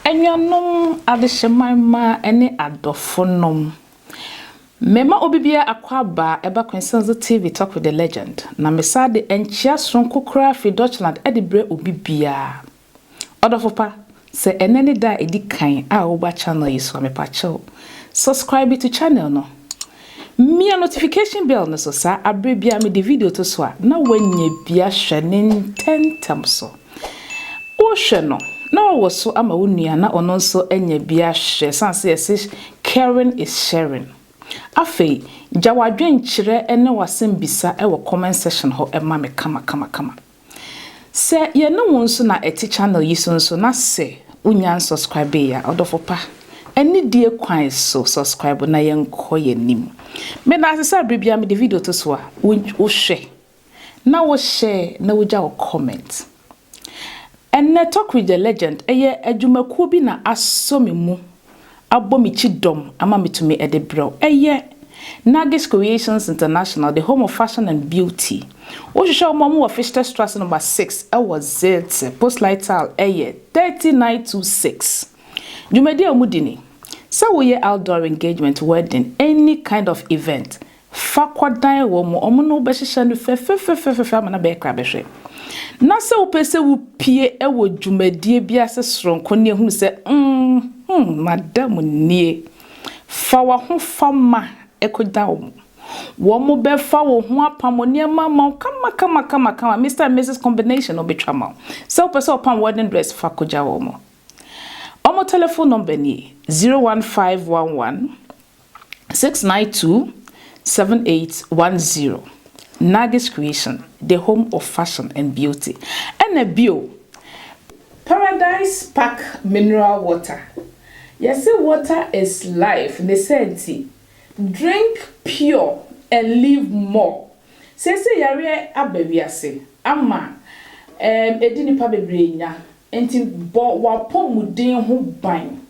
Anuanom adehyemma mmaa ne adɔfonom, mema obi biara akwaaba a ɛba Quintessence so TV Talk with the Legend, na mesan de nkyea soronko koraa fi Dutchland de brɛ obi biara. Ɔdɔfo pa, sɛ ɛnɛ ne da a ɛdi kan a woba channel yi so a, mepakyɛw, subscribe to channel no. Mia notification bell no so saa a bere biara mede video to so a, na woanya bi ahwɛ ne ntɛmntɛm so. Wohwɛ no, na woawo so ama wo nua na ɔno nso anya bi ahwɛ esiane sɛ yɛse caring is sharing. Afei, gya w'adwenkyerɛ ne w'asɛmbisa wɔ comment section hɔ ma me kamakamakama. Sɛ yɛne wo nso na ɛte channel yi so nso na sɛ wonya nsɔskrabee a, ɔdɔfo pa, anidie kwan so sɔskrabo na yɛnkɔ yɛn anim. Meda ase sɛ bere biara mede video to so a, wohwɛ, na wo share, na wogya wo comment. Ɛnnɛ Talk with the Legend, ɛyɛ adwumakuo bi na asɔ me mu abɔ me kyidɔm ama metumi de brɛ wo. Ɛyɛ Nagis Creations International, the home of fashion and beauty. Wohwehwɛ wɔn a, wɔwɔ Fichterstrasse number six wɔ Zelte, postleitzahl yɛ thirty nine two six. Dwumadi a wɔdi ni, Sɛ woyɛ outdoor engagement, wedding, any kind of event, Fa kɔdan wɔn, wɔn ne wo bɛhyehyɛ no fɛfɛfɛfɛfɛ ama no abɛyɛ krabɛhwɛ. Na sɛ wopɛ sɛ wupue wɔ dwumadie bi ase soronko ne ahunu sɛ, mm-hmm, mada mu nie, fa w'ahofama kɔdan wɔn. Wɔbɛfa wo ho apam wo nneɛma ama wo kamakamakama, Mister and Misis Combination na wɔbɛtwa ama wo. Sɛ wopɛ sɛ wɔpam wo wedding dress, fa kɔgya wɔn. Wɔn telephone number nie, zero one five one one. six nine two seven eight one zero Nagis Creation the home of fashion and beauty ɛna bio Paradise Park mineral water yɛse water is life ne saa nti drink pure and live more seesei yareɛ aba wiase ama ɛɛ ɛdi nipa bebree nya nti bɔ wapɔmuden ho ban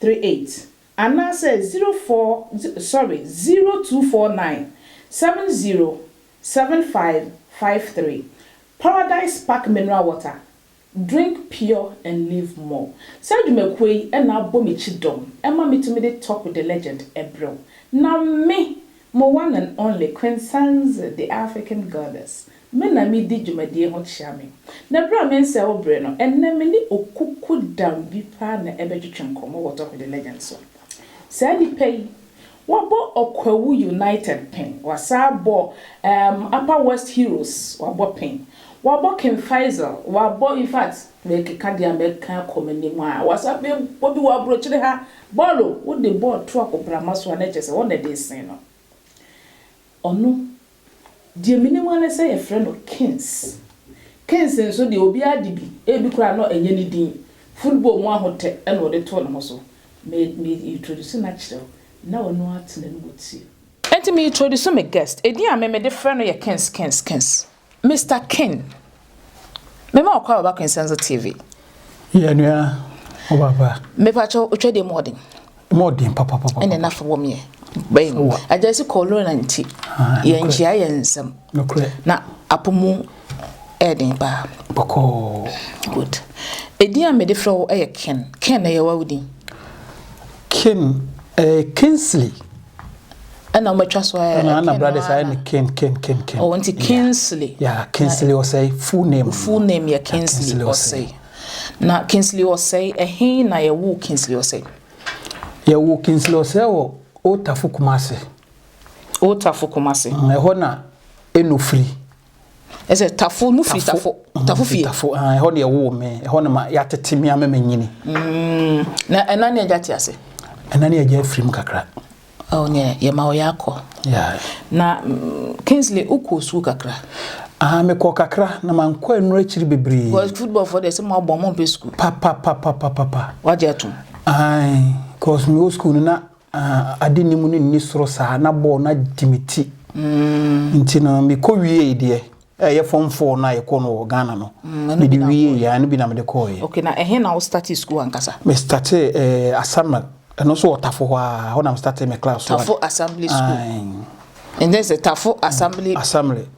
three eight anaasɛ zero four sorry zero two four nine seven zero seven five five three Paradise Park Mineral Water Drink pure and live more Saa dwumakuo yi na abɔ me kyidɔm ma metumi de Tock with the Legend brɛ wo na me Mo one and only Queen Sanze the African Goddess, me na me di dwumadie ho kyea me. Na berɛ a me nsɛe wo bere no, ɛnnɛ me ne okuku dam bi paa na ɛbɛtwetwe nkɔmmɔ wɔ Talk with the Legend so. Saa nipa yi, wabɔ Ɔkwawu United pen, wasan abɔ um, Upper West Heroes, wabɔ pen, wabɔ King Faisal, wabɔ, in fact, Merekeka deɛ a mɛka akɔ m'anim a, wɔasan bɛbɔ bi wɔ aburokyire ha. Bɔɔl o! Wode bɔɔl to akoprama so a, na kyerɛ sɛ hɔ na ɛde resen no. Ɔno, deɛ menim ara ne sɛ wɔfrɛ no Kings. Kings nso deɛ, obiara de bi. Ebi koraa na ɛnyɛ ne din. Football mu ahotɛ na ɔde too ne ho so. Me, me introduce no akyerɛ wo, na w'ani atena no wɔ tire. Enti me introduce me guest. Edin a me mede frɛ no yɛ Kings, Kings, Kings. Mister King, me ma ɔkɔ aba kwensan so TV. Yɛ nua, o baba. Me pa kyɛw, otwa de mu ɔden. Mu ɔden papa papa. Ɛna na fa wɔm yɛ. Bɛn. Agyasi kɔlɔn na nti. Yɛ nkyia yɛ nsɛm. Nokorɛ. Na apomu ɛden pa. Bɔkɔ. Good. Edin a me de frɛ wo ɛyɛ Ken. Ken na yɛ wa wo din. Ken, eh, Kinsley. ɛna wɔatwa so ayɛ ɛna ana brothers ayɛ ne ken ken ken ken ɔwɔ nti kinsley ya kinsley ɔsɛe full name full name yɛ kinsley ɔsɛe na kinsley ɔsɛe ɛhe na yɛwo kinsley ɔsɛe yɛwo kinsley ɔsɛe wɔ otafo kumase otafo kumase ɛhɔ na ɛnofiri Ɛsɛ tafo mo firi tafo tafo fie. tafo ah ɛhɔ deɛ ɛwoo me ɛhɔ na ma yɛatete me ama manyini. Mm, na ɛna ne agya te ase. Ɛna ne agya afiri mu kakra. Oh ne yɛma wo yɛ akɔ. Yeah. Na mm, Kingsley wokɔ sukuu kakra. Ah mekɔ kakra na mankɔ ɛno akyiri bebree. Because football fo deɛ sɛ mo abɔ mo mpɛ sukuu. Papapapapapa. Wagye atom. Ae, cause mewɔ sukuu no na Ah, ade nni mu no nni soro saa, na bɔɔl no adi me ti. Mm. Nti no, mekɔ wiei deɛ, ɛyɛ fɔm fɔɔ no a yɛkɔ no wɔ Ghana no. Mm, mede wiei, yɛ no bi na mede kɔɔyɛ. Ok, na ɛhe na wo starte school ankasa? Me starte eh, Asaman, ɛno nso wɔ Tafo hɔ a, hɔ na me starte me class. Tafo Assembly School. Aye. And then sɛ Tafo Assembly. Assembly.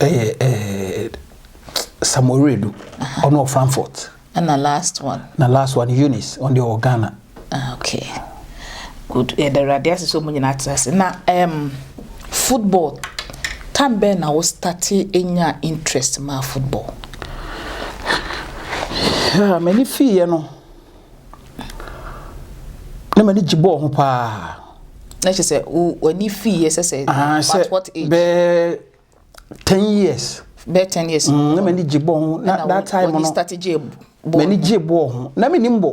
ɛyɛ ɛɛ samoredu ɔno wɔ frankfurt ɛna last one na last one eunice ɔno deɛ wɔ ghana ah, okay good yɛda awurade ase sɛ ɔmu nyina atra ase na um, football tam bɛn na wo starte ɛnya interest maa football yeah, m'ani fiiɛ no na m'ani gye bɔɔl ho paa. na kyerɛ sɛ w'ani fii yɛ sɛ sɛ ah, what what age bɛɛ ten years bɛɛ ten years mm, na m'ani gye bɔɔl ho na that time no m'ani gye bɔɔl ho na m'ani mbɔ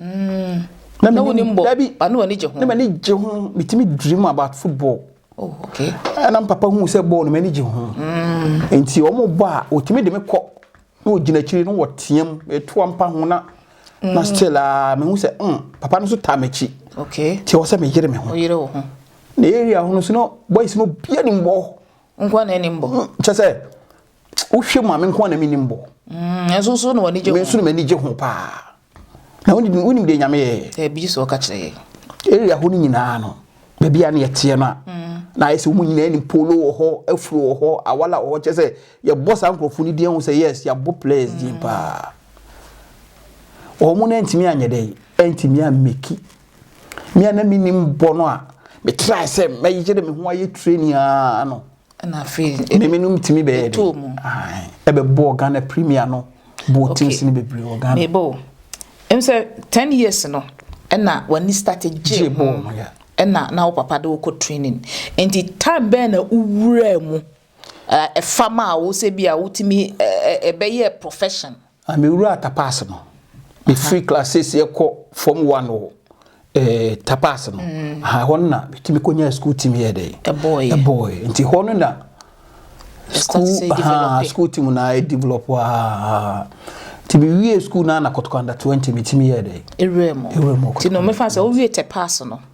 mm. na m'ani mbɔ dabi na m'ani gye ho na m'ani gye ho bitimi dream about football oh, okay. ɛna papa hu sɛ bɔɔl no m'ani gye ho mm. nti wɔn bɔ a wɔtumi de me kɔ na ɔgyina akyiri na wɔteam ɛtoa mpa ho na na still a mehu sɛ mm papa no nso taa m'akyi nti ɛwɔ sɛ meyere me ho na area ho no so na boys no bia nim bɔ nkoa na anim bɔ mm, kyɛ sɛ wohwɛ mu a me nkoa na menim bɔ mm, ɛnso so na w'ani gye ho me nso na m'ani gye ho paa Na wonim wonim deɛ nyame yɛ. Ɛbi eh, sɛ ɔka kyerɛ yɛ. Area hɔ no nyinaa no baabi a na yɛteɛ no a mm. na ayɛ sɛ wɔn nyinaa nim polo wɔ hɔ afuro wɔ hɔ awala wɔ hɔ kyɛ sɛ yɛbɔ saa nkurɔfoɔ no din ho sɛ yes yɛabɔ players din mm. paa wɔn no ntumi anyɛ dɛ ntumi ameki mmea na menim bɔ no a metrae sɛ mɛyere me ho ayɛ training aa no ɛna afei memenom tumi bɛyɛ de ɛbɛbɔɔ ghana premier no bɔɔ teams no bebree wɔ ghana mebɔ ɛm sɛ 10 years no ɛna w'ani start gye ho ɛna na wo papa de wokɔ training nti time bɛn na wowuraa mu ɛfa ma a wo sɛ bi a wotumi ɛbɛyɛ profession Na mewuraa Tapas no, mefiri class seeseɛ kɔ form one wɔ eh, Tapas no, mm. aha hɔ no na metumi kɔnyaa school team yɛ dɛ ɛbɔɔɛ nti hɔ no na school aha school team na ayɛ develop aa nti mewie school no na kɔtɔkanda 20 metumi yɛ dɛ ɛwura mu ɛwura mu nti no mefa sɛ wowie Tapas no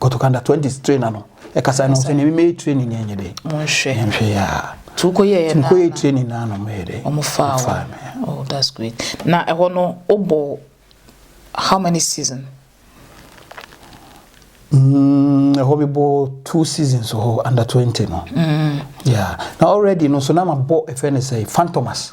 Kɔtɔ kanda twenty trainer no ɛkasa no sɛ nneɛma yɛ training yɛn nyɛ dɛ nhwɛ nhwɛ yɛ a tu kɔ yɛ yɛ kɔ yɛ training na anam yɛ dɛ wɔn fa wɔn oh that's great na ɛhɔ no o bɔ how many season. Mm, ɛhɔ bi bɔ two seasons hɔ under twenty no. Mm. Yeah. na already no so na ma bɔ ɛfɛ ne sɛ fantomas.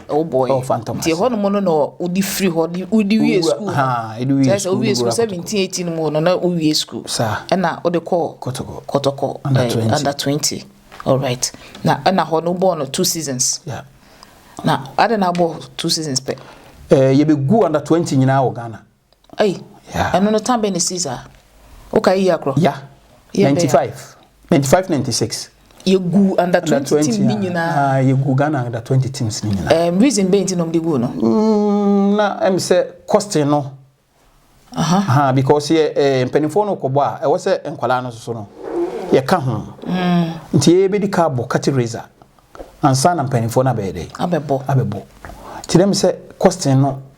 Wobɔɔ yɛ. Oh, Phantom Nti ase. ɛhɔnom no na wode firi hɔ de wode wie Wowura- sukuu no. haa, ɛde wie Kyerɛ sɛ sukuu wowie no sukuu wura 17 18 no mu no na wowie sukuu. Saa. Ɛna wode kɔɔ Kotoko. Kotoko Under eh, 20. under 20. Alright. Na ɛna hɔ no wobɔɔ no two seasons. Yeah. Na adɛn na wobɔɔ two seasons pɛ? Eh, yɛbɛgu under 20 nyinaa wɔ Ghana. Ei, ɛno no tan bɛn na esii saa? Wokae yiye akorɔ? Ya, Yɛ bɛn 95, 95, 96. yɛguu under Under 20 team 20 ne a, nyinaa. ah, yɛgu Ghana under 20 teams no nyinaa. Ɛm, reason bɛn nti na wɔde guu no? Mm, na ɛm sɛ costing no, Aha. ha, because yɛ eh, mpanimfoɔ no kɔbɔ a, ɛwɔ sɛ nkwadaa no soso no, yɛka ho. Nti yɛbɛdi ka abɔ cutting razor ansa na mpanimfoɔ no abɛyɛ dɛ, Abɛbɔ. abɛbɔ. Nti na ɛm sɛ costing no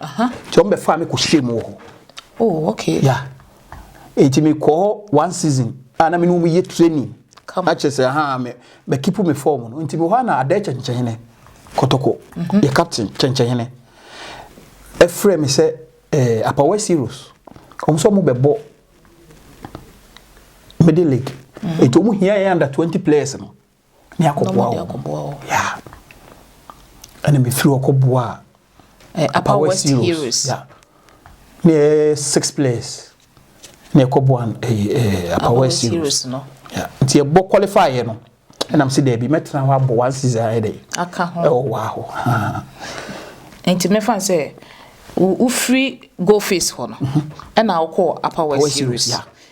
Aha. Nti wɔn bɛ faa mi kɔ hyɛ mu wɔ hɔ. Oh okay. Yeah. Nti mi kɔ hɔ one season a na mi ni wɔn yɛ training. Come. Akyɛ sɛ ha mi bɛ kipu mi fɔm no nti mi hɔ a na adɛ kyɛnkyɛnhene kɔtɔkɔ mm -hmm. yɛ captain kyɛnkyɛnhene ɛfrɛ mi sɛ ɛɛ eh, apa west heroes wɔn sɛ wɔn bɛ bɔ middle league. Mm -hmm. Nti wɔn hia yɛ under twenty players no. ne akɔboa wɔn. Yeah. Ɛna mefiri hɔ kɔboa eh, Upper West Heroes. Heroes. Yeah. Ne eh, six players na ɛkɔboa ɛyɛ ɛɛ apawa series no nti ɛbɔ qualify yɛ no ɛnam si dɛbi mɛtena hɔ abɔ one season ayɛ dɛ aka ho ɛwɔ wɔ ahɔ nti mɛfa sɛ wofiri go face hɔ no mhm. ɛna wokɔ apawa series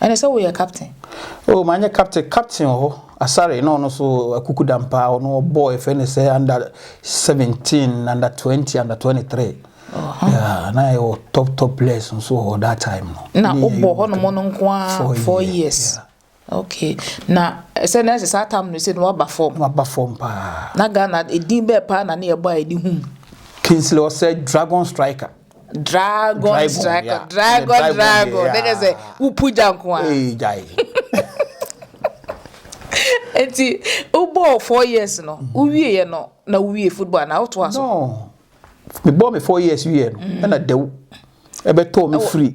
Ɛne sɛ woyɛ captain. Oh manyɛ captain captain wɔ hɔ asare na ɔno so akukudam paa ɔno ɔbɔ ɛfɛ ne sɛ under seventeen under twenty under twenty three yeah na yɛ wɔ top top players nso wɔ hɔ that time no na wobɔ hɔ nom no nko ara four years okay na ɛsɛ na ɛsɛ saa tam no sɛ na waba fam waba fam paa na Ghana edin bɛɛ paa na ne yɛbɔ a ɛde hum Kingsley ɔsɛ dragon striker Dragon Dragon, dragon yeah. Ɛnɛ dragon dragon dragon deɛ, na kyerɛ sɛ yeah. wopu gya nko a Ee, gyae. nti wobɔɔ four years no wowieɛ no na wowie football anaa wotoa so No. Mebɔɔ me four years wieɛ no, ɛna dawu ɛbɛtɔɔ me Ɛwɔ- firi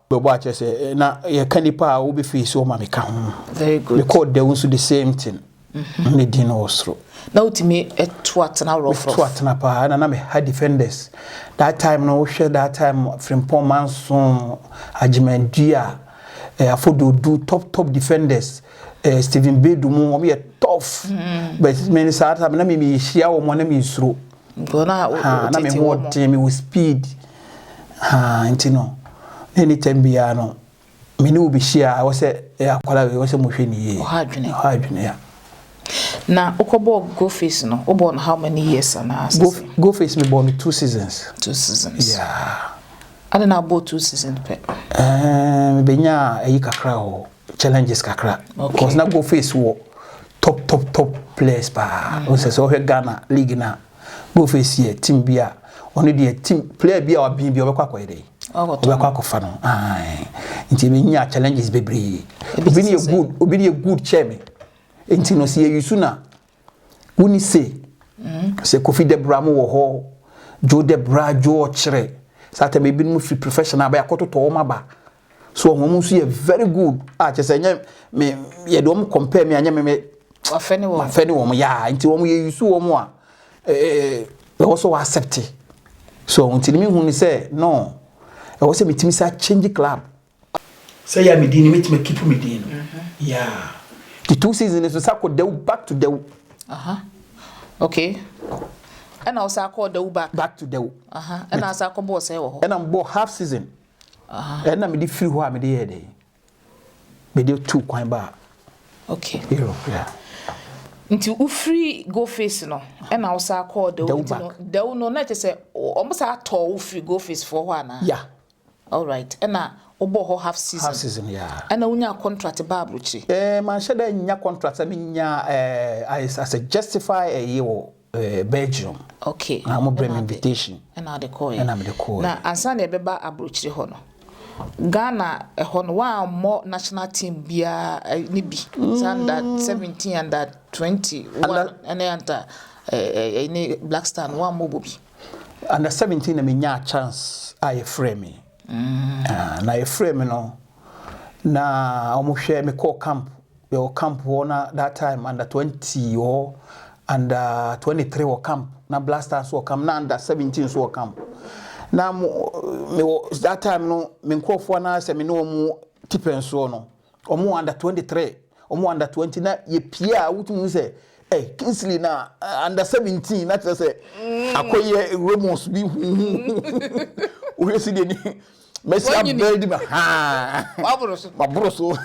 bɛbɔ akyerɛ sɛ eh, na yɛka nnipa a wobɛfei so ma meka ho mekɔɔ dɛw nso the same thing mhm. ne din no wɔ soro na wotumi to atena worɔfrɔto atena paa na na meha defenders that time no wohwɛ that time frimpɔn manso agyemandua eh, afɔdodu top top defenders eh, stephen bedu mu wɔyɛ tough mm. but mene saa time na memehyia wɔ mu na mensuro Haa na me ho ɔden me wɔ speed haa nti no na any time biara no me ne wo bɛ hyia ɛwɔ sɛ ɛyɛ akwara wei ɛwɔ sɛ mo hwɛ ne yie ɔha adwene ɔha adwene ya. Na wokɔ bɔɔ go face no wo bɔɔ no how many years anaa sɛ sɛ. Go face me bɔɔ no two seasons. Two seasons yeah. Adɛn na wo bɔɔ two seasons pɛ. Ɛɛ me bɛ nyaa ɛyi kakra wɔ hɔ. challenges kakra okay. because na go face wɔ top top top players paa mm. sɛ sɛ wohwɛ ghana league no a go face yɛ team bi a ɔno deɛ team player bi a wabene bi ɔbɛkɔ akɔyɛ dɛn ɔbɛkɔ akɔfa no nti menya challenges bebree obi ne yɛ good obi ne yɛ good kyɛ me nti no sɛ yɛyi so na woni se mm. sɛ kofi debra mo wɔ hɔ joe debra joe ɔkyerɛ sɛ atɛm ebinom fi professional bɛyɛ akɔtotɔ wɔn aba So wɔn nso yɛ very good a kyɛ sɛ nyɛ me yɛde wɔn compare me a nyɛ me me wafɛ ne wɔn wafɛ ne wɔn yaa nti wɔn yɛ yusu wɔn a ɛɛ ɛwɔ so wɔ accept so nti ne mi hu ne sɛ no ɛwɔ sɛ metumi sa change club sɛ yɛ a medin no mɛtumi keep me din no mm-hmm. yaa the two seasons no so sa kɔ dawu back to dawu okay ɛna ɔsa kɔ dawu back back to dawu ɛna asa kɔ bɔɔ sɛ wɔ hɔ ɛna mbɔ half season Ɛna mede firi hɔ a mede yɛɛ dɛn? Mede tuu kwan baa okay. Europe. Yeah. Nti wofiri Goface no ɛna wosaa kɔɔ Dɛw nti no Dɛw no na kyɛ sɛ wɔn saa tɔɔ wo firi Goface foɔ hɔ anaa? Yeah. All right. Ɛna wobɔ hɔ half season. Half season, yeah. Ɛna wonya contract baa aburokyire. Eh, manhyɛ dɛ nya contract sɛ menya eh, I, I suggest if I eh, eh, Belgium. Okay. Na wɔn brɛ me invitation. Ɛna ɔde kɔɔ yɛ. Ɛna mede kɔɔ yɛ. Na ansa na ɛbɛba aburokyire hɔ no, Ghana ɛhɔ no wɔammɔ national team biara eh, ne bi. Mm. Sɛ under seventeen under twenty one ɛne anta ɛɛ eh, ne Black Star no wɔammɔ bɔ bi. Under seventeen na me nyaa chance a yɛfrɛ me. Mm. Ah, na yɛfrɛ me no na wɔn hwɛ me kɔɔ camp. yɛwɔ camp hɔ na that time under twenty wɔ hɔ under twenty three wɔ camp na black star nso wɔ camp na under seventeen nso wɔ camp na mo me wɔ that time no me nkurɔfoɔ anaasɛ me ne wɔn tipɛn soɔ no wɔn wɔ under twenty three wɔn wɔ under twenty na yɛpie a wotumi sɛ ɛ Kingsley na eh, under seventeen na kyerɛ sɛ akɔyɛ Ramos bi huhu wohwɛ si deɛ ni mɛsi abɛn di ma haa waboro so waboro so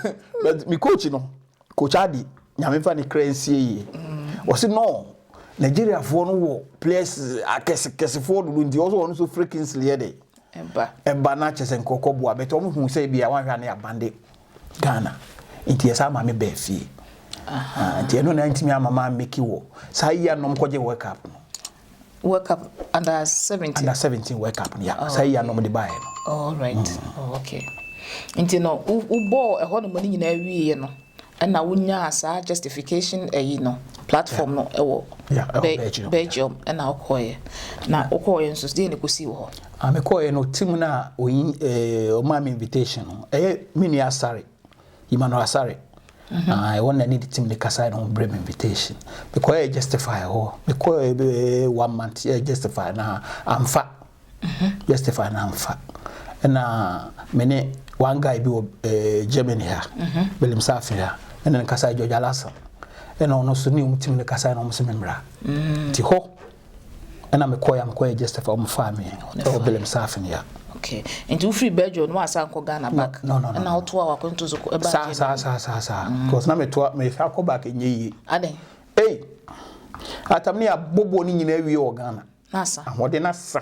but mi coach no coach adi nyame nfa ne kra nsie yie mm. wɔsi no nigeriafoɔ no wɔ players akɛsekɛsefoɔ dodo nti wɔsɔ wɔn so free kingsley yɛ de ɛba na kyɛ sɛ nkorɔkɔ boa bɛtɛ wɔn hu sɛ ebi a wɔn ahwɛ ne abande ghana nti yɛ sɛ ama mi bɛɛ fie nti ɛno na ntumi ama maa meki wɔ saa yia nom kɔgye world cup no. World Cup under seventeen. Under seventeen World Cup no ya. Oh, Saa yia na wɔde baeɛ no. All right. Mm. Oh, okay. Nti no wobɔɔ ɛhɔ nom no nyinaa wieɛ no ɛna wonyaa saa justification ɛyi no platform no ɛwɔ Belgium ɛna wokɔɔyɛ na wokɔɔyɛ nso deɛ ne kɔsii wɔ hɔ. Ah, mekɔɔyɛ no team no a ɔmaa me invitation no ɛyɛ me nua Asare Emmanuel Asare na ɛwɔ na ne team de kasae no brɛ me invitation mekɔɛ justify hɔ mekɔɛ bɛ one month yɛ justify na amfa justify na amfa ɛna mene one guy bi wɔ eh, Germany ha William Safi ha ɛna ne kasae George Alasan ɛna ɔno so ne ɔmo team de kasae na ɔmo se me mmra nti hɔ Ɛna me kɔɛ a me kɔyɛ Jestefa ɔmo faa me ɛwɔ Belem saafin ya. Okay nti wo firi Belgium no w'asan kɔ Ghana back no, no, no, ɛna wo toa w'akwantu so ɛbaa saa Germany saa saa saa saa mm. because na me toa me fa kɔ back nye yie. Adan. Ei atam ne abobo ne nyinaa wie wɔ Ghana. N'asa. Ahoɔden n'asa.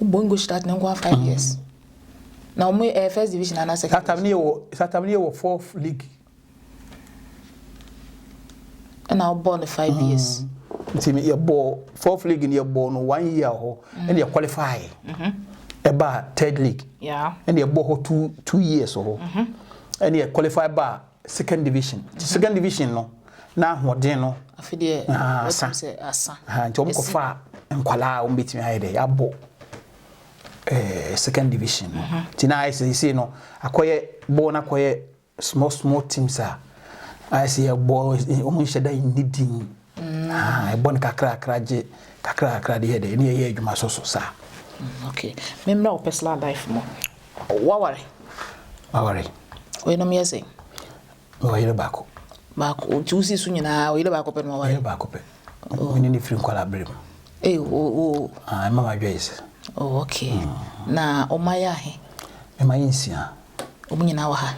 Bongo start ne nkoa five years. Na wɔn ɛyɛ first division ana second. Satam ne yɛ wɔ Satam ne yɛ wɔ fourth league. Ɛna ɔbɔ no five mm. years. Nti no yɛ bɔ fourth league no yɛ bɔ no one year hɔ mm. ɛna yɛ qualify. Mm-hmm. Ɛba third league. Ɛna yɛ bɔ hɔ two two years hɔ. Mm-hmm. Ɛna yɛ qualify ba Second division. Nti mm-hmm. second division no na ahoɔden no afe deɛ asa sɛ asa nti wɔn kɔfa nkwadaa a wɔn bɛtumi ayɛ dɛ abɔ ɛɛ second division no mm-hmm. nti na ayɛ sɛ sɛ no akɔyɛ bɔɔl no akɔyɛ small small teams a ayɛ sɛ yɛbɔ wɔn nhyɛ da nni din Ah, ɛbɔ no kakrakra gye kakrakra de yɛ dɛ ne yɛyɛ adwuma so so saa. Mm, okay, memmra wo personal life mu. Waware? Maware. Oyenom yɛ sɛ? Mewɔ yere baako. Baako, nti wosi so nyinaa oyere baako pɛ na waware? Yere baako pɛ. Oh. Mene ne firi nkwala bere mu. Ee, o o. Ah, ɛma wadwa yi sɛ. Oh, okay. Mm. Na ɔma yɛ ahe? Mema yɛ nsia. Wɔn nyinaa wɔ ha?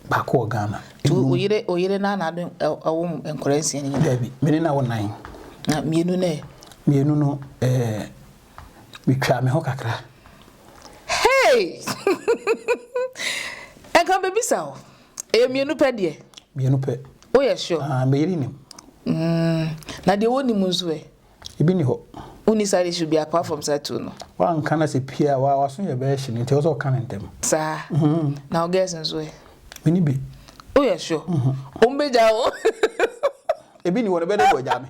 baako wɔ Ghana. Wo yere wo yere na na de ɛwo nkwadaa nsia ni. Dabi, me ne na wɔ nan. Na mmienu no ɛ. Mmienu no ɛɛ metwa me ho kakra. Hey! Ɛnka bebisa o. Ɛyɛ mmienu pɛ deɛ. Mmienu pɛ. Woyɛ sure? Ah, me yere nim. Mm, na deɛ wɔnim nso ɛ. Ebi nni hɔ. Wonni saa ade su bi apart from saa tuo no? Woanka no sɛ pii a, w'aso yɛ bɛyɛ hye no nti ɛwɔ sɛ woka no ntɛm. Saa? Na wo girls nso ɛ? Menni bi. Woyɛ sure? Wɔn bɛgyaa wo. Ebi nni hɔ no, ɛbɛyɛ dɛ wɔagyaa me.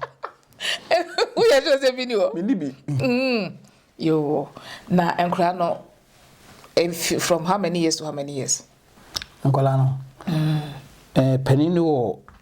Woyɛ sure sɛ ebi nni hɔ? Menni bi. Yoo, na nkwadaa no from how many years to how many years? Nkwadaa no? Panin no wɔ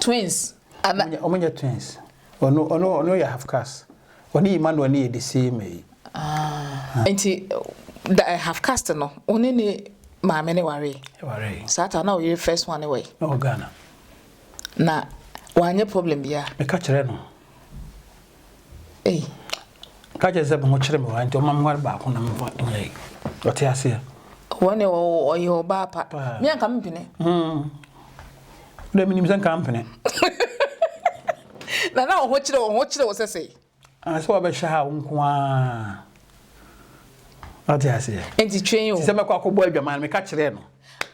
Twins ana? Ɔmo nyɛ twins. Ɔno ɔno ɔno yɛ half caste. Ɔne Emmanuel no yɛ the same ɛyi. Ah nti da eh, half caste no wo ne ne maame no waree? Yɛwaree. Saa ta na wo yere first one no wɔ he? Na ɔwɔ Ghana. Na wanyɛ problem biaa? Meka kyerɛɛ no. Ei, ka kyerɛ sɛ me ho kyere me wa nti ɔma me ware baako na me fa nyɛ yi. Ɔte aseɛ. Wɔn deɛ ɔyɛ ɔbaa pa. Paa. Me anka mpene. Hmm. Dɛ menim sɛ nka mpene. Na na ɔho kyere ɔho kyere wo sɛ sɛi. Ah, sɛ wɔbɛhyɛ ha wo nko ara. Ɔte aseɛ. Nti twɛn o. Sɛ mɛkɔ akɔbɔ adwaman no meka kyerɛɛ no.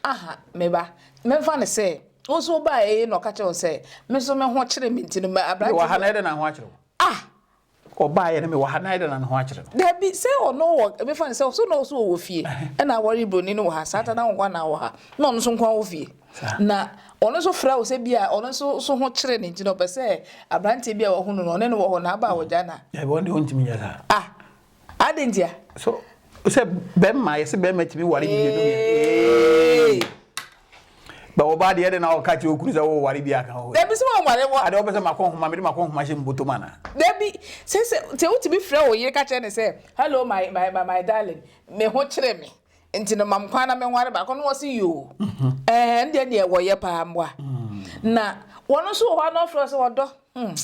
Aha, me ba. Mɛmfa no sɛ. Wo nso wobae eei na ɔka kyerɛɛ wo sɛ, Me nso me ho kyere me nti no me aberante no. Mewɔ ha na ɛdɛn na ne ho akyere wo? Ah! Ɔbaeɛ no mewɔ ha na ɛdɛn na ne ho akyere no? Dabi, sɛ ɔno wɔ, mefa no sɛ so na ɔwɔ so ɔwɔ fie ɛna aware broni no wɔ ha saa ta na wo nkoa na wowɔ ha na ɔno nso nkoa wɔ fie na ɔno nso frɛ wo sɛ bi a ɔno nso so ho kyere no nti na ɔpɛ sɛ aberanteɛ bi a wahunu no ɔne no wɔ hɔ na aba a wɔgya no a. Dabi, ɔno deɛ ɔntumi nyɛ saa. Ah! Adɛn ntia? So sɛ bɛrima yɛsɛ bɛrima tumi ware mmienu mmienu. Bɛ wɔ ba deɛ de na ɔka kyerɛ okuru sɛ wo ware bi aka hɔ. Dabi sɛ wɔn ware wɔ. Adeɛ wɔpɛ sɛ makɔ nhoma mede makɔ nhoma hyɛ mbotom ana. Dabi sɛ sɛ sɛ wotumi frɛ wo yere ka kyerɛ ne sɛ hello my my my darling me ho kyere me. nti no mam kwan na menware baako no wɔse yoo ɛɛ ɛndeɛ deɛ wɔyɛ paa mboa na wɔn nso wɔ hɔ na ɔfrɛ sɛ ɔdɔ hmm.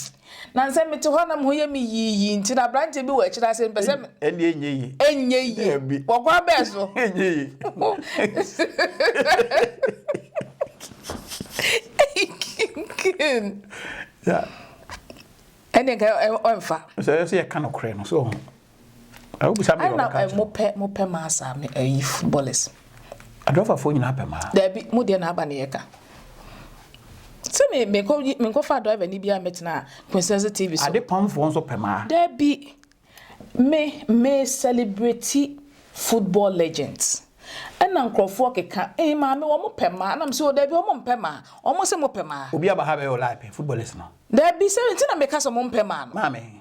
na nsɛ mete hɔ na mo ho yɛ me yiiyi nti na aberanteɛ bi wɔ akyire ase mpɛ sɛ ɛndeɛ ɛnyɛ yi ɛnyɛ yi wɔkɔ abɛɛ so ɛnyɛ yi ɛndeɛ nka ɔmfa sɛ yɛ ka nokorɛ no so Ɛ wobisa me na ɔbɛka akyerɛ. mo pɛ mo pɛ maa saa me ayi footballers. Adɔfafoɔ nyinaa pɛ maa. Daabi mo deɛ na aba na yɛka. Sɛ me me kɔ me nkɔ fa driver ni bi a mɛtena Quintessence TV so. Ade pamfoɔ nso pɛ maa. Daabi me me celebrate football legends ɛna nkorɔfoɔ keka ee maame wɔn pɛ maa ɛna me sɛ o daabi wɔn mpɛ maa wɔn se mo pɛ maa. Obi aba ha bɛyɛ o lie pɛ footballers no. Daabi sɛ nti na meka sɛ wɔn mpɛ maa no. Maame.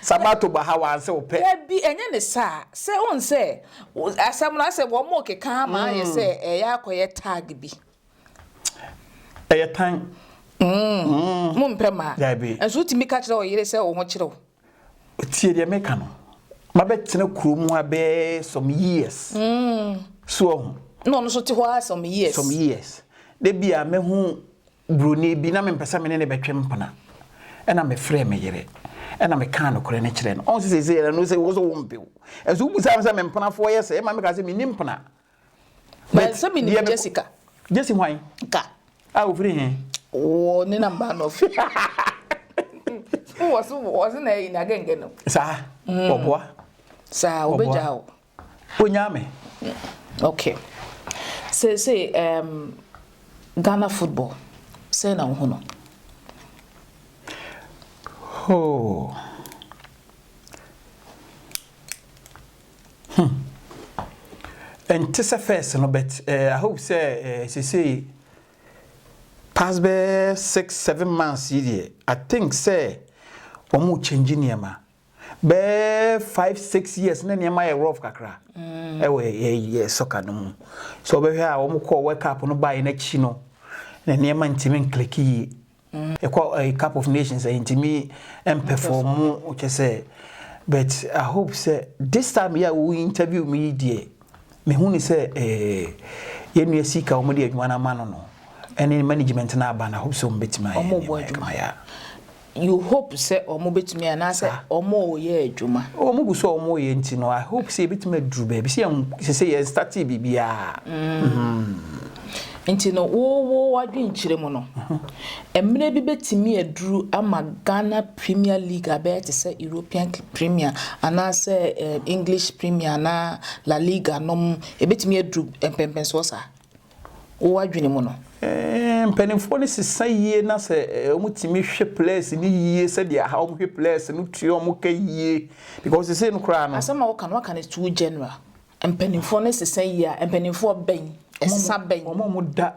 Sabato bɔ ha wa sɛ ɔpɛ. Dabi ɛnyɛ ne saa sɛ wohu sɛ asɛm no asɛ wɔrekeka ama ayɛ sɛ ɛyɛ akɔyɛ tag bi. Ɛyɛ tan. Umm mo mpɛ maa. Dabi. Nso wotumi ka kyerɛ ɔyere sɛ wo ho kyerɛ wo. Tie deɛ meka no mabɛtena kuro mu ha bɛɛ some years. Umm. So ɔho. Na ɔno so te hɔ ha some years. Some years. Dabi a mɛhu. Buroni bi, na mempɛ sɛ me ne no bɛtwe mpena. Ɛnna mefrɛɛ me yere, ɛnna mekaa nokorɛ no kyerɛɛ no. Ɔho sɛ seesei ɛno sɛ wo so wompɛ o. Ɛnso wobisaa me sɛ me mpenafoɔ yɛ sɛn ma mekaa sɛ menni mpena. But sɛ menim Jessica. Jesse hwan? Ka. A ɔfiri he? Wɔ ne na mmaa no fi. Wɔ so wɔ se na ɛyi na gɛngɛ no. Saa, ɔboa. Saa, ɔbɛgyaa wo. Onyaa me. Ok. Seesei ɛɛm Ghana football sɛn na wohu no? Hoo. Hmm. Ɛnte sɛ first no but eh, I hope sɛ eh, seesei past bɛyɛ six seven months yi deɛ I think sɛ wɔn change nneɛma bɛɛ five six years na nneɛma yɛ rough kakra mm. ɛwɔ yɛ yɛ sɔka no mu so ɔbɛhwɛ a wɔn kɔ world cup no baeɛ n'akyi no na nneɛma ntumi nkiliki yie mm. ɛkɔ ɛyɛ cup of nations ɛyɛ ntumi mpɛfɔmu kyɛ sɛ but i hope sɛ this time yɛ a wɔn interview mi yi deɛ mehu ne sɛ ɛɛ yɛn nua sika wɔn de adwuma no ama no no ɛne management no aba na hope sɛ wɔn bɛtumi ayɛ nneɛma yɛ kama yɛ a. You hope sɛ ɔmo bɛtumi anaasɛ ɔmo reyɛ adwuma? Ɔmo gu so a ɔmo reyɛ nti no, I hope sɛ yɛbɛtumi aduru baabi. Sɛ yɛn, sɛsɛ yɛn startee biribiara. Mm. Nti no, wo, wo adwenkyerɛ mu no, mmerɛ bi bɛtumi aduru ama Ghana Premier League abɛyɛ te sɛ European Premier anaasɛ eh, English Premier anaa La Liga nom, ɛbɛtumi aduru mpɛmpɛnsoɔ saa? wo adwene mu no. Mpanimfoɔ no sesa yie na sɛ wɔtumi hwe plɛs no yie sɛdeɛ aha wɔn hwe plɛs no tua wɔn ka yie because sesei no koraa no. Asɛm a woka no waka no too general. Mpanimfoɔ no sesa yie a mpanimfoɔ bɛn? Ɛsesa bɛn? Wɔn a wɔda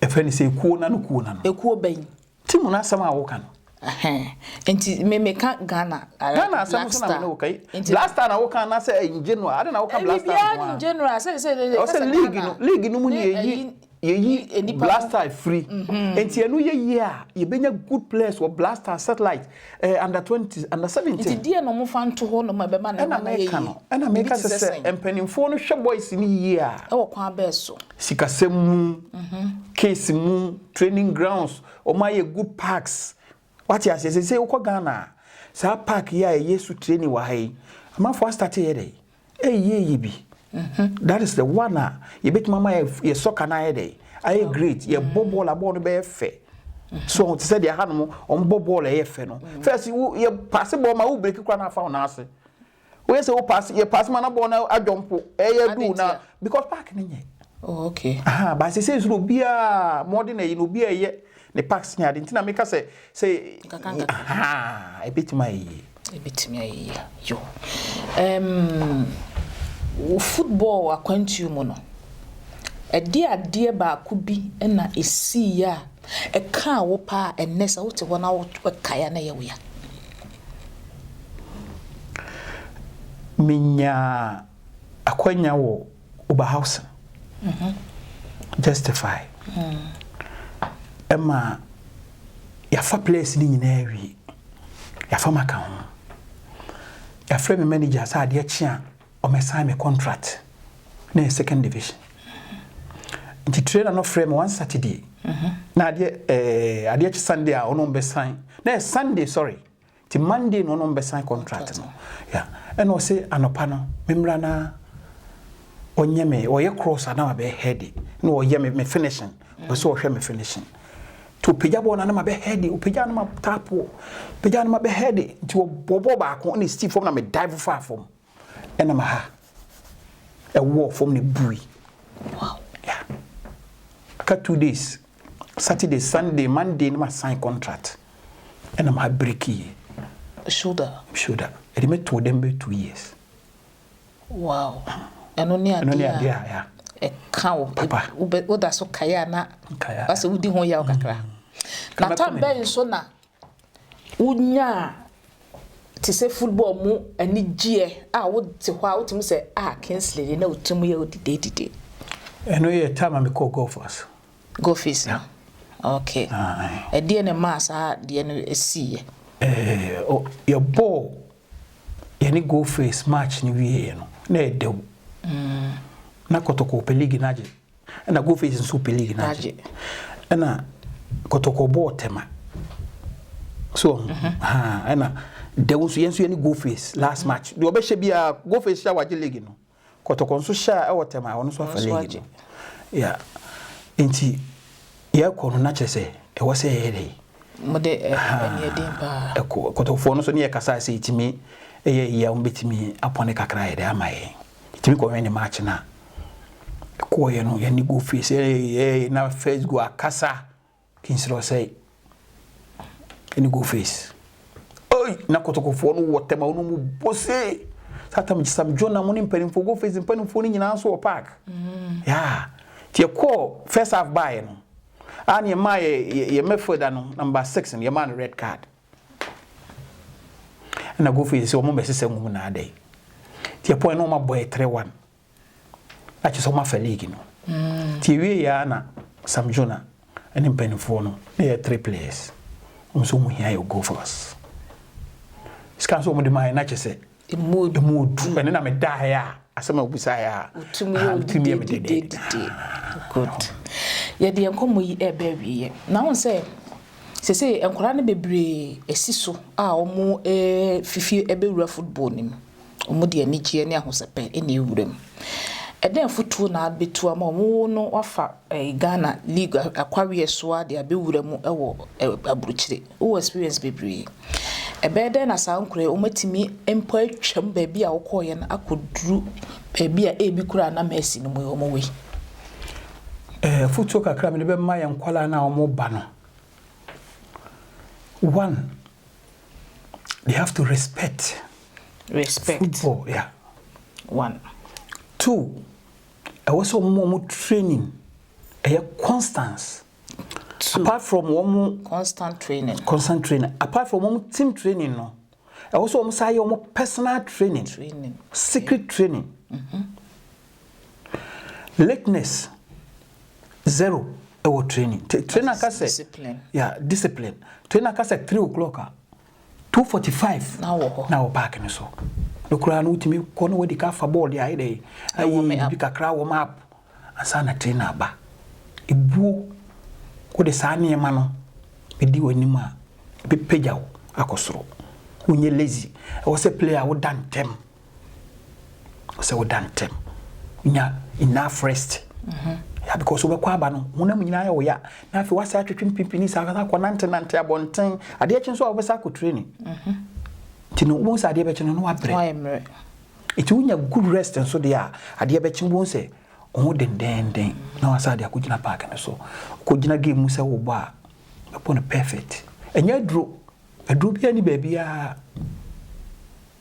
ɛfrɛ no sɛ ekuo no ano kuo no ano. Ekuo bɛn? Ti mu no asɛm a woka no. Ɛhɛn, nti me meka Ghana ara Ghana black asɛm nso na me star. ne wo ka yi. Nti Black star na woka anaasɛ in general? Adɛn na woka black star biribiara nko ne in ara? general sɛ sɛ de Ɛwɔ ka sɛ sɛ league Ghana no, league no mu na ne yɛyi ayi yɛyi ne nipa black no. star firi. Nti ɛno yɛ yie a, yɛbɛnya good players wɔ black star, satellite. Eh, under twenty, under seventeen. Nti deɛ na ɔmo fa nto hɔ nom a ɛbɛma ne Ɛna mma no ayɛ meka yie. no, ɛna Biribi meka te sɛ sɛ sɛn? mpanimfoɔ no hwɛ boys no yie a, Ɛwɔ kwan bɛɛ so. sikasɛm mu, mhm, case mu, training grounds, wɔn ayɛ good parks. Wate aseɛ sɛ sɛ wokɔ Ghana a, saa park yi a ɛyɛ su training wɔ ha yi, amanfoɔ astate yɛ dɛ. Ɛyɛ yie bi. That is the one a yɛbɛtumi ama yɛ soccer no ayɛ dɛ ayɛ great yɛbɔ bɔɔl a bɔɔl no bɛyɛ fɛ so ɔmo te sɛ deɛ hanom ɔmo bɔ bɔɔl a ɛyɛ fɛ no first wo yɛ paase bɔɔl ma wo breki kora na afa wo nan ase woyɛ sɛ wo paase yɛ paase ma na bɔɔl no adwɔ mpo ɛyɛ du na because park no nyɛ oh okay aha baasi sɛ nsoro obiara mɔden na ɛyi na obiara ɛyɛ Ne packs nyɛ ade nti na me ka sɛ sɛ Nkakra nkakra. ahaa ebetumi ayɛ yie. Ebetumi ayɛ yie yo. Ɛɛm wɔ football akwantuo mu no, ɛdeɛ adeɛ baako bi na esiiɛ a ɛkaa wo paa a ɛnnɛ sɛ wote hɔ na wo kae a na ɛyɛ wo ya? Me nyaa akwanya wɔ Oberhausen justify ɛma yɛafa players no nyinaa wie yɛafa maka ho yɛafrɛ me manager sɛ adeɛ kye a ɔmɛsan me contract na yɛ second division nti trainer no frɛ me one saturday na adeɛ ɛɛ eh, adeɛ kye sunday a ɔno ɔmbɛsan na yɛ sunday sorry Nti Monday na ɔnom bɛsan contract no yeah ɛna ɔse anɔpa no memmra na ɔnyɛ me ɔyɛ cross ana mabɛyɛ heady na ɔyɛ me me finishing ɔpɛ sɛ ɔhwɛ me finishing nti ɔpagya bɔɔ no ana mabɛ heady ɔpagya no ma tapoɔ pagya no mabɛ heady nti ɔbɔbɔ baako na ɛsi fam na me dive faa fam Ɛna ma ha ɛwɔɔ fam na ɛbui. Wow. Yeah. Aka two days. Saturday, Sunday, Monday na ma sign contract. Ɛna ma breki yie. Shoulder. Shoulder. Ɛde me too dɛm bɛ two years. Wow. Ɛno ne adeɛ a. Ɛno ne adeɛ a ya. Ɛka wo. Papa. Woda so kaeɛ a na. Kaeɛ. Basɛ wodi ho yaw kakra. Mm. Na tam bɛn so na Wonyaa te sɛ football mu anigyeɛ a wote hɔ a wotumi sɛ ah Kingsley deɛ na wo tiri mu yɛ wo didedide. Ɛno yɛ time a mekɔɔ Gophers. Gophers no? Ok. Ɛdeɛn na ɛmaa saa deɛ no siiɛ? Yɛbɔɔ yɛne Gophers match no wieeɛ no, na ɛdɛw. Na Kotoko pɛ league no agye. Ɛna Go Face nso pɛ league no agye. Ɛna Kɔtɔkɔ bɔɔ Tema. So ɔho. Mhm. Ha ɛna Dɛw nso yɛn nso yɛne Go Face last mhm. match. Deɛ ɔbɛhyɛ biara Go Face hyɛ wagye league no. Kɔtɔkɔ nso hyɛ a ɛwɔ Tema a ɔno nso afa league no. Yeah. Nti yɛkɔ no na kyerɛ sɛ ɛwɔ sɛ yɛyɛ dɛ. Mo de ɛni ɛdi paa. Ɛkɔ Kɔtɔkɔfoɔ no nso ne yɛ kasa sɛ ɛtumi ɛyɛ yie a wɔn bɛtumi apɔne kakra yɛ dɛ ama yɛn. Yɛtumi kɔhwɛ ne match no a, ɛkɔeɛ no yɛne goal fie sɛ ɛyɛɛyɛ na first goal akasa Kingsley Osei ɛne goal face. Oi, na kotokofoɔ no wɔ tɛm a wɔn mu bɔ see. Satam Sam John na mo ne mpanimfoɔ goal face mpanimfoɔ no nyinaa nso wɔ park. Mm. Yeah. Nti yɛkɔɔ first half baeɛ no, a ne yɛmaa yɛ yɛ midfielder no number six no yɛmaa no red card. Ɛna Kofi nse wɔn bɛsesa mu na adɛ. Ti ɛpɔ ɛna wɔn abɔ yɛ three one. Akyɛ sɛ wɔn afɛ league no. Mm. Ti ewie yɛ ana Sam Jona ɛne mpanimfoɔ no na yɛ three players. Wɔn nso wɔn hia yɛ goal for us. Sika nso wɔn de maa yɛ na kyɛ sɛ Emu odu. Emu odu. Ɛne na medaeɛ a, asɛm a wobisaeɛ a. Wotim yɛ wo dede dede dede. Good. Yɛde yɛn nkɔmmɔ yi reba awieɛ. Na wohu sɛ, seesei nkwadaa no bebree asi so a wɔrefi fie abɛwura football no mu. Wɔde anigyeɛ ne ahosɛpɛ na ɛrewura mu. Ɛdɛn afotuo na wobɛtu ama wɔn? Wo no woafa Ghana league akwaweɛ so ara de abɛwura mu wɔ aburukyire. Wowɔ experience bebree. Ɛbɛyɛ dɛn na saa nkoraa yi wɔatumi mpo atwam baabi a wokɔeɛ no akɔduru baabi a ebi koraa na Mercy no mu yi wɔwɔ yi? Afotuo kakra a mede bɛma yɛn nkwadaa no a wɔreba no, one, they have to respect, respect. football. Yeah. One. Two, ɛwɔ sɛ wɔn wɔn training ɛyɛ constance apart from wɔn constant training constant training apart from wɔn team training no ɛwɔ sɛ wɔn saa yɛ wɔn personal training training secret training mm-hmm. lateness zero ɛwɔ training trainer ka sɛ yeah discipline trainer ka sɛ three o'clock a. Two forty five na wɔ hɔ. na wɔ park no so no koraa no wotumi kɔ na wadi ka fa bɔɔl de ayɛ dɛ ayɛ biribi kakra wɔm up ansa na trainer aba ebuo wode saa nneɛma no bɛdi w'anim a ɛbɛpagya wo akɔ soro wonyɛ lazy ɛwɔ sɛ player woda ntɛm sɛ woda ntɛm nya enough rest ya because wobɛkɔ aba no honam nyinaa yɛ wo ya na afei woasɛ atwetwe mpimpini saa kasa kɔ nante nante abɔnten adeɛ kye nso a wobɛsa akɔ training nti no wobɛhu sɛ adeɛ bɛkye no na wabrɛ nti wonya good rest nso deɛ a adeɛ bɛkye wobɛhu sɛ wo dendenden na wasa ade akɔgyina park no so wokɔgyina game mu sɛ wobɔ a bɛbɔ no perfect ɛnyɛ aduro aduro biara ni baabiara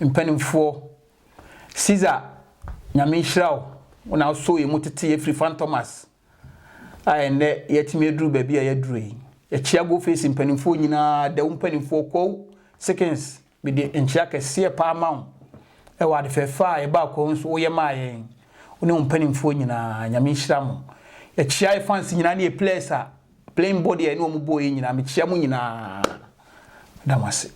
Mpanimfoɔ, Cesar Nyame nhyira wo, wo na wosoo yɛn mu tetee yɛn firi Fantomas a ɛnnɛ yɛatumi aduru baabi a yɛaduru yi. Yɛkyea Go Face mpanimfoɔ nyinaa, Dawu mpanimfoɔ, Kwawu, Sekins, mede nkyea kɛseɛ paa ma wo wɔ ade fɛɛfɛ a yɛbaa Kwawu nso woyɛ maa yɛn, wo ne wo mpanimfoɔ nyinaa, Nyame nhyira mo. Yɛkyea yɛn fans nyinaa ne yɛn players a Plane bɔ deɛ ɛne wɔn bɔɔ yɛ nyinaa mekyia mo nyinaa da mo ase.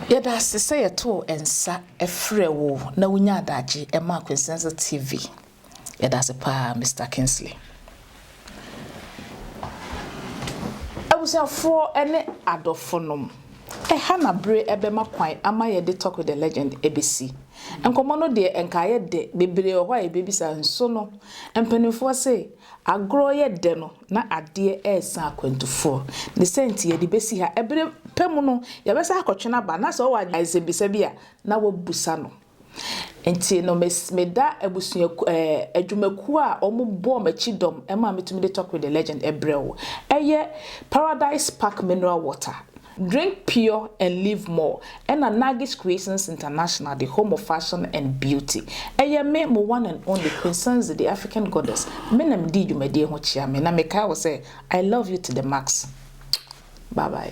Yɛda ase sɛ yɛtoo nsa frɛɛ wo na wonyaa adagye maa Quintessence TV. Yɛda ase paa Mister Kingsley. Abusuafoɔ ne adɔfonom, ɛha na bere bɛma kwan ama yɛde Talk with the Legend bɛsi. Nkɔmmɔ no deɛ nka ayɛ dɛ, bebree wɔ hɔ a yɛbɛbisa nso no mpanimfoɔ se Agorɔ yɛ dɛ no, na adeɛ resa akwantufoɔ. Ne sɛ nti yɛde bɛsi ha. Ɛberɛ pa mu no, yɛbɛsan akɔtwe no aba, na sɛ ɔwɔ nsɛmmisa bi a, na wɔabisa no. Nti no, me meda abusuaku ɛɛ adwumakuo a wɔbɔɔ m'akyi dɔm maa metumi de Talk with the Legend brɛ wo. Ɛyɛ Paradise Park Mineral Water. Drink Pure and Live More ɛna Nagis Creations International de Home of Fashion and Beauty ɛyɛ me mo one and only Queen Sanzi the African Goddess me na medii dwumadie ho kyea me na mekae wo sɛ I love you to the max bye bye.